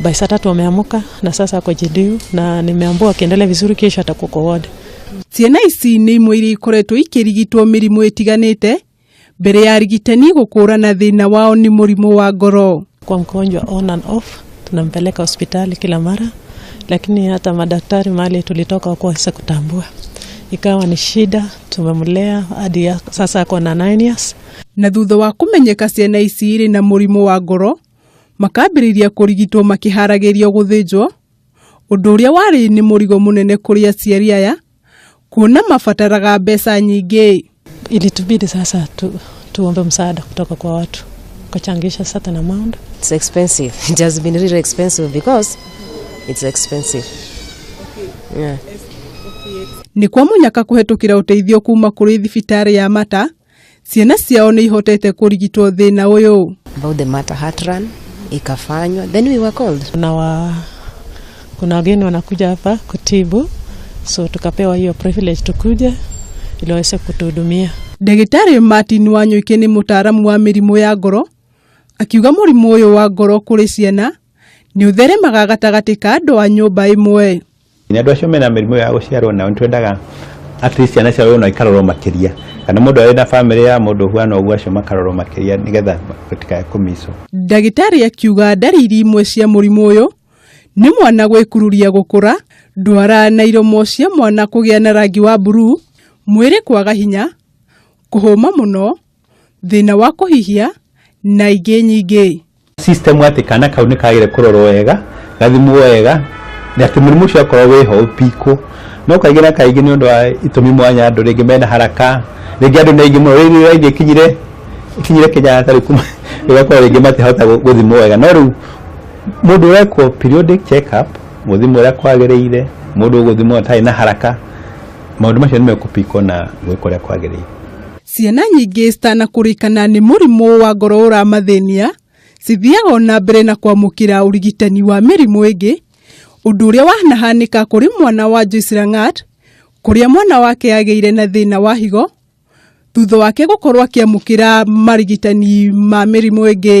By saa tatu ameamuka na sasa ako JDU na nimeambua akiendelea vizuri kesho atakuwa kwa ward. Ciana ici nĩ imwe iria ikoretwo ikĩrigitwo mĩrimũ ĩtiganĩte mbere ya arigitani gũkũũrana thĩna wao nĩ mũrimũ wa ngoro. Kwa mgonjwa on and off, tunampeleka hospitali kila mara, lakini hata madaktari mahali tulitoka wakuweza kutambua, ikawa ni shida. Tumemlea hadi ya- sasa ako na 9 years. Na thutha wa kũmenyeka ciana ici irĩ na mũrimũ wa ngoro, Makambĩrĩria kũrigitwo makĩharagĩrio gũthĩnjwo, ũndũ ũrĩa warĩ nĩ mũrigo mũnene kũrĩ aciari aya, kuona mabataraga mbeca nyingĩ. Ilitubidi sasa tu, tuombe msaada kutoka kwa watu ukachangisha certain amount. It's expensive. It has been really expensive because it's expensive. Yeah. Nĩ kwa mũnyaka kũhetũkĩra ũteithio kuma kũrĩ thibitarĩ ya Mata Ciana ciao nĩ ihotete kũrigitwo thĩna ũyũ. about the matter heart run ikafanywa then we were called na wa, kuna wageni wanakuja hapa kutibu, so tukapewa hiyo privilege tukuje ili waweze kutuhudumia. Ndagĩtarĩ Martin Wanyũike nĩ mũtaaramu wa mĩrimũ ya ngoro, akiuga mũrimũ ũyũ wa ngoro kũrĩ ciana Nĩ ũtheremaga gatagatĩ ka andũ a nyũmba ĩmwe. Nĩ andũ acio mena mĩrimũ ya gũciarwo nao nĩ twendaga at least ciana ciao no ikarorwo makĩria kana mũndũ arĩ na famĩlĩ ya mũndũ ũhuana ũguo acio makarorwo makĩria nĩgetha gũtikae kũmicwo. Ndagĩtarĩ akiuga ndariri imwe cia mũrimũ ũyũ nĩ mwana gwĩkururia gũkũra, ndwara na iromo cia mwana kũgĩa na rangi wa mburuu, mwĩrĩ kwaga hinya, kũhũma mũno, thĩna wa kũhihia na ingĩ nyingĩ. system atĩ kana kau nĩ kagĩre kũrorwo wega gathimwo wega na atĩ mũrimũ ũcio akorwo wĩho ũpikwo no kaingĩ na kaingĩ nĩ ũndũ wa itũmi mwanya andũ rĩngĩ mena haraka rĩngĩ andũ nĩ aingĩ mũno rĩngĩ nĩ aingĩ kinyire kinyire Kenyatta rĩu kuma ĩgakorwo rĩngĩ matihota gũ- gũthimwo wega no rĩu mũndũ ũrekwo periodic check up gũthimwo ũrĩa kwagĩrĩire mũndũ ũgũthimwo atarĩ na haraka maũndũ macio nĩ mekũpikwo na gwĩkwo ũrĩa kwagĩrĩire Ciana nyingĩ citanakũrĩkana nĩ mũrimũ wa ngoro ũramathĩnia cithiaga o na mbere na kwamũkĩra ũrigitani wa mĩrimũ ĩngĩ, ũndũ ũrĩa wanahanĩka kũrĩ mwana wa Joyce Langat, kũrĩa mwana wake agĩire na thĩna wa higo thutha wake gũkorwo akĩamũkĩra marigitani ma mĩrimũ ĩngĩ.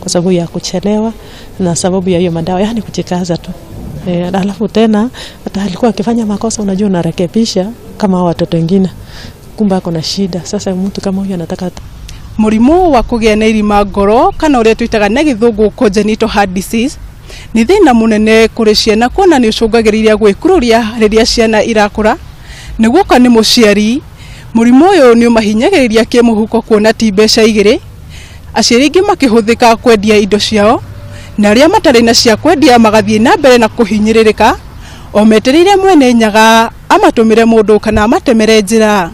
kwa sababu ya kuchelewa na sababu ya hiyo madawa, yani kujikaza tu e, alafu tena hata alikuwa akifanya makosa, unajua unarekebisha kama hao watoto wengine, kumbe ako na shida. Sasa mtu kama huyo anataka Mũrimũ wa kũgĩa na irima ngoro kana ũrĩa twĩtaga na gĩthũngũ congenital heart disease nĩ thĩna mũnene kũrĩ ciana kuona nĩ ũcũngagĩrĩria gwĩkururia rĩrĩa ciana irakũra nĩ guoka nĩ mũciari mũrimũ ũyũ nĩ ũmahinyagĩrĩria kĩmũhuko kuona ti mbeca igĩrĩ Aciari aingĩ makĩhũthĩka kwendia indo ciao na arĩa matarĩ na cia kwendia magathiĩ na mbere na kũhinyĩrĩrĩka o metereire mwene nyaga amatũmĩre mũndũ kana amatemere njĩra.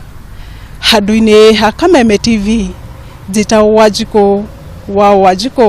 Handũ-inĩ ha Kameme TV, njĩtagwo Wanjikũ wa Wanjikũ.